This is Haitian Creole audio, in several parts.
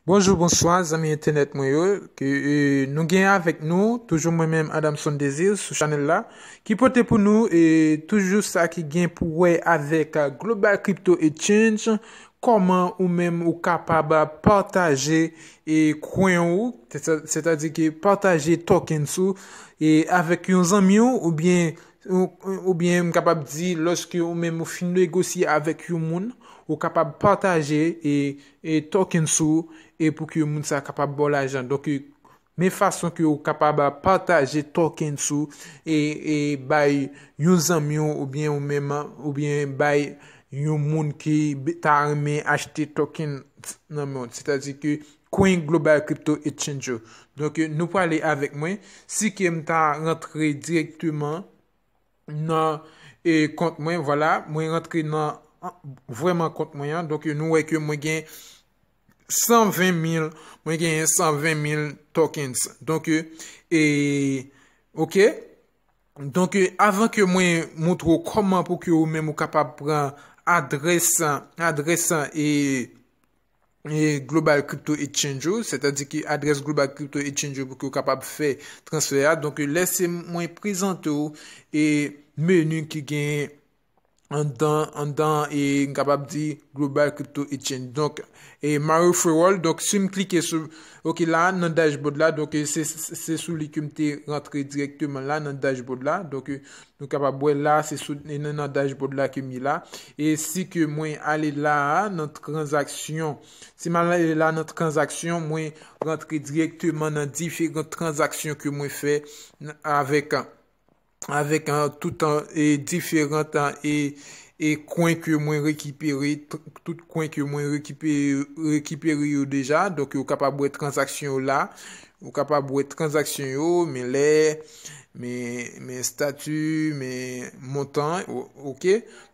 Bonjou bonswa zanmi entènèt mwen yo ke nou gen avèk nou toujou mwen menm Adamson Desir sou chanèl la ki pote pou nou e toujou sa ki gen pou wè avèk Global Crypto Exchange kòman ou menm ou kapab pataje e kwen ou sètadi ke pataje tokens ou e avèk yon zanmi ou oubyen Oubyen m kapab di lòske ou menm ou fin negosye avèk yon moun, ou kapab pataje e tokens ou e pou ke moun sa kapab ba w lajan. Donk, men fason ke ou kapab pataje tokens ou e bay yon zanmi w oubyen ou menm, oubyen bay yon moun ki ta renmen achte tokens nan men w. Sètadi ke Coin global crypto exchange yo. Donk nou prale avèk mwen, si ke m ta rantre direkteman nan kont mwen, vwala, mwen rantre nan vwèman kont mwen an, donk nou wè ke mwen gen 120 mil, mwen gen 120 mil tokens. Donk e, ok, donk avan ke mwen moutre ou kòman pou ke ou menm ou kapab pran adrès, adrès e Global Crypto Exchange ou, sètadi ki adrès Global Crypto Exchange ou pou ki ou kapab fè transfè a. Donk lè se mwen prezante ou e menu ki gen andan, andan e m kapab di Global Crypto Exchange. Donk e my referral, donk si m klike sou, ok la nan dashboard la, donk se sou li ke m te rantre direkteman la nan dashboard la. Donk Nou kapab wè la a se sou nan dashboard la ke m ye la. E si ke mwen ale la a nan tranzaksyon. Si m ale la a nan tranzaksyon, mwen rantre direkteman nan diferan tranzaksyon ke mwen fè avèk avèk tout diferan tan e e kwen ke mwen rekipere tout kwen ke mwen rekipere yo deja. Donk ou kapab wè tranzaksyon yo la. Ou kapab wè tranzaksyon yo men lè. men estati, men montan ok,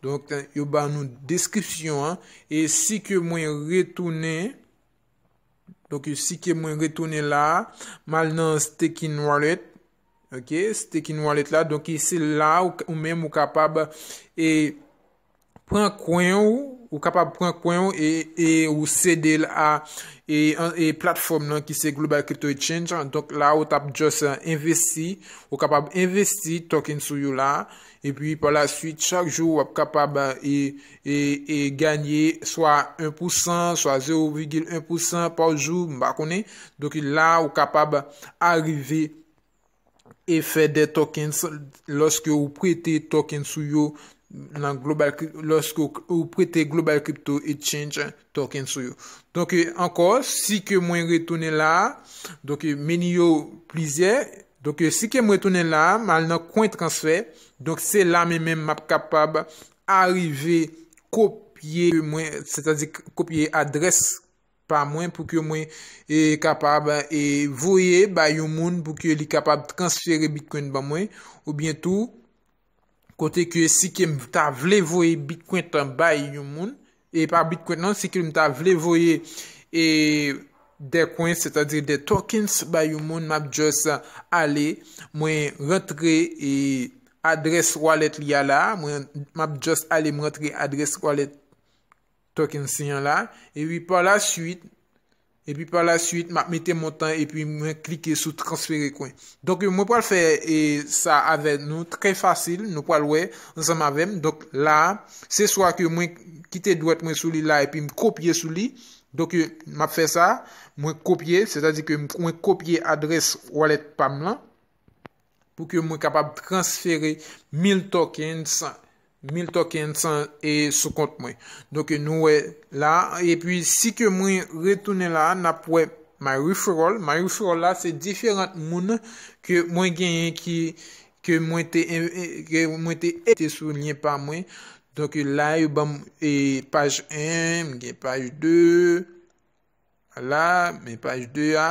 donk yo ba nou deskripsyon an, e si ke mwen retounen, donk si ke mwen retounen la, mal nan staking wallet, ok, staking wallet la, donk se la ou menm ou kapab e pran kwen ou, ou kapab pran kwen ou e, e ou sede l a e, e platfòm nan ki se Global Crypto Exchange an. Donk la ou tap just envesti, ou kapab envesti token sou yo la. E pi pa la suite, chak jou ou ap kapab e, e, e ganye swa 1 pou san, swa 0,1 pou san pa jou, m pa konnen. Donk la ou kapab arive. Efè de tokens, Lòske ou prete tokens ou yo nan Global Crypto, lòske ou prete Global Crypto Exchange tokens ou yo. Donk ankò, si ke mwen retounen la, donk meni yo plizyè, donk si ke mwen retounen la, mal nan coin transfer, donk se la men men map kapab arive kopye mwen, sètadi kopye adrès. pa mwen pou ke mwen kapab voye ba yon moun pou ke li kapab transfere bitcoin ban mwen ou byen tou kote ke si ke m ta vle voye bitcoin tan bay yon moun e pa bitcoin nan si ke m ta vle voye e de coin se ta di de tokens ba yon moun m ap just ale mwen rantre e adress wallet li a la mwen m ap just ale m rantre adress wallet Token sin an la, epi par la suite, epi par la suite map mete montan epi mwen klike sou transfere kwen. Donk mwen pral fè e sa avè nou trè fasil, nou pral wè ansanm avèm. Donk la, se swa ke mwen kite dwèt mwen sou li la epi m kopye sou li. Donk map fè sa, mwen kopye, sètadi ke mwen kopye adrès wallet pam lan. pou ke mwen kapab transfere 1000 tokens, 1000 tokens e sou kont mwen. Donk nou wè la, e pi si ke mwen retounen la, n ap wè my referral, my referral la se diferant moun ke mwen genyen ki, ke mwen te, ke mwen te ete sou lyen pa mwen. Donk la yo banm e paj 1, m gen paj 2, la, men paj 2 a.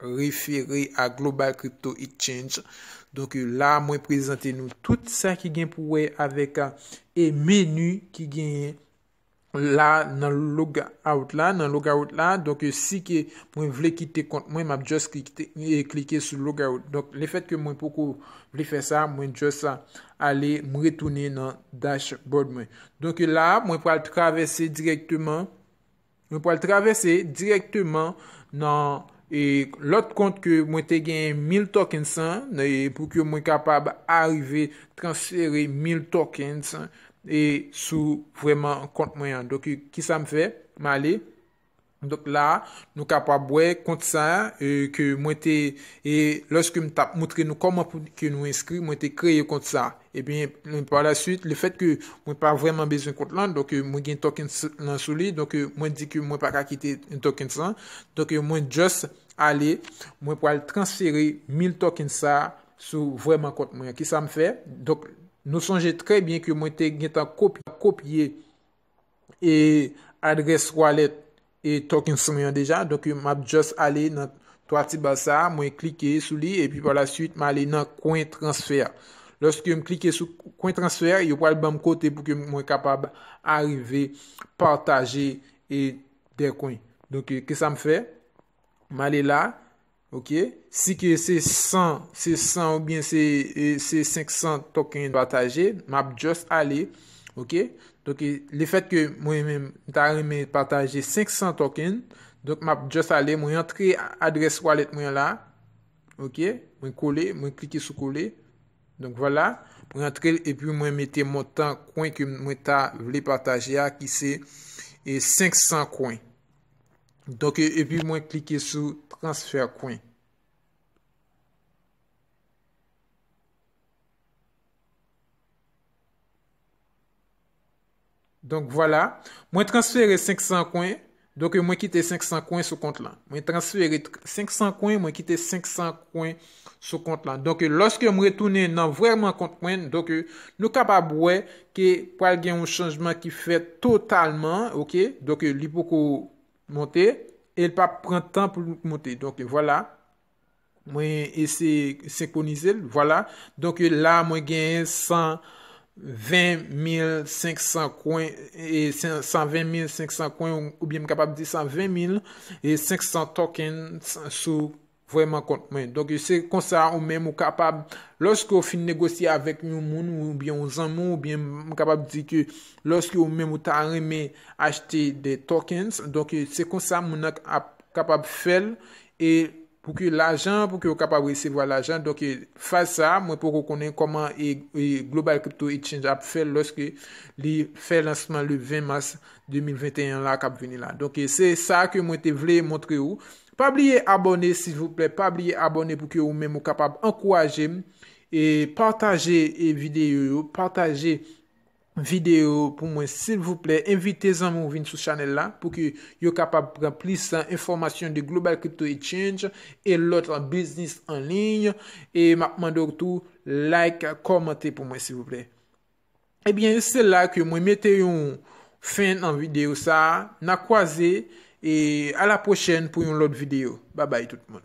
refere a Global Crypto Exchange. Donk la mwen prezante nou tout sa ki gen pou wè avèk e menu ki genyen la nan logout la, nan logout la. Donk si ke mwen vle kite kont mwen, map just klike sou logout. Donk le fèt ke mwen poko vle fè sa, mwen just ale m retounen nan dashboard mwen. Donk la mwen pral travèse direkteman. Mwen pral travèse direkteman nan e lòt kont ke mwen te genyen 1000 tokens an e pou ke mwen kapab arive transfere 1000 tokens e sou vreman kont mwen an. Donk ki sa m fè? M ale. Donk la, nou kapab wè kont sa e ke mwen te e lòske m tap moutre nou kòman pou ke nou enskri, mwen te kreye kont sa a. Ebyen, pa la suite, le fèt ke mwen pa vreman bezwen kont lan, donk mwen gen tokens lan sou li, donk mwen di ke mwen pa ka kite tokens lan, donk mwen just ale, mwen pral transfere 1000 tokens sa sou vreman kont mwen. Kisa m fè? Donk nou sonje trè byen ke mwen te gen tan kopye. e adrès wallet e token son yon deja donk m ap just ale nan 3 ti baz sa mwen klike sou li epi pa la suite m ale nan kwen transfè lòske m klike sou kwen transfè yo pral banm kote pou ke mwen kapab arive pataje e de kwen donk ki sa m fè m ale la Ok, si ke se 100, se 100 ou byen se 500 token yo pataje, m ap just ale, ok, donk le fèt ke mwen menm m ta renmen pataje 500 token, donk m ap just ale, mwen antre adrès wallet mwen la, ok, mwen kole, mwen klike sou kole, donk vwala, mwen antre l epi mwen mete montan kwen ke mwen ta vle pataje a ki se 500 kwen. Donk epi mwen klike sou transfer coin. Donk vwala, mwen transfere 500 kwen, donk mwen kite 500 kwen sou kont lan. Mwen transfere 500 kwen, mwen kite 500 kwen sou kont lan. Donk, lòske m retounen nan vrèman kont mwen, donk, nou kapab wè ke pral gen yon chanjman ki fèt totalman, ok, donk, li poko monte, e l pa p pran tan pou l monte. Donk, vwala, mwen eseye senkwonize l, vwala, donk, la mwen gen 120.500 kwen, 120.500 kwen, oubyen m kapab di 120.500 tokens sou. Vrèman kont mwen. Donk, se konsa ou menm ou kapab, lòske ou fin negosye avèk yon moun oubyen yon zanmi w oubyen m kapab di ke lòske ou menm ou ta renmen achte de tokens, donk se konsa moun nan ap kapab fè l e pou ke lajan, pou ke ou kapab resevwa lajan. Donk, faz sa a, mwen poko konnen kòman Global Crypto Exchange ap fè l lòske li fè lansman le 20 mas 2021 la k ap vini la. Donk, se sa ke mwen te vle montre ou. Pa bliye abòne silvouplè pa bliye abòne pou ke ou menm ou kapab ankouraje m e pataje videyo yo pataje videyo yo pou mwen silvouplè envite zanmi w vin sou chanèl la pou ke yo kapab pran plis enfòmasyon de global crypto exchange e lòt biznis an liy e map mande w tou like kòmante pou mwen silvouplè. Ebyen se la ke mwen mete yon fen nan video sa a. Na kwaze e a la pwochèn pou yon lòt video. Babay tout moun.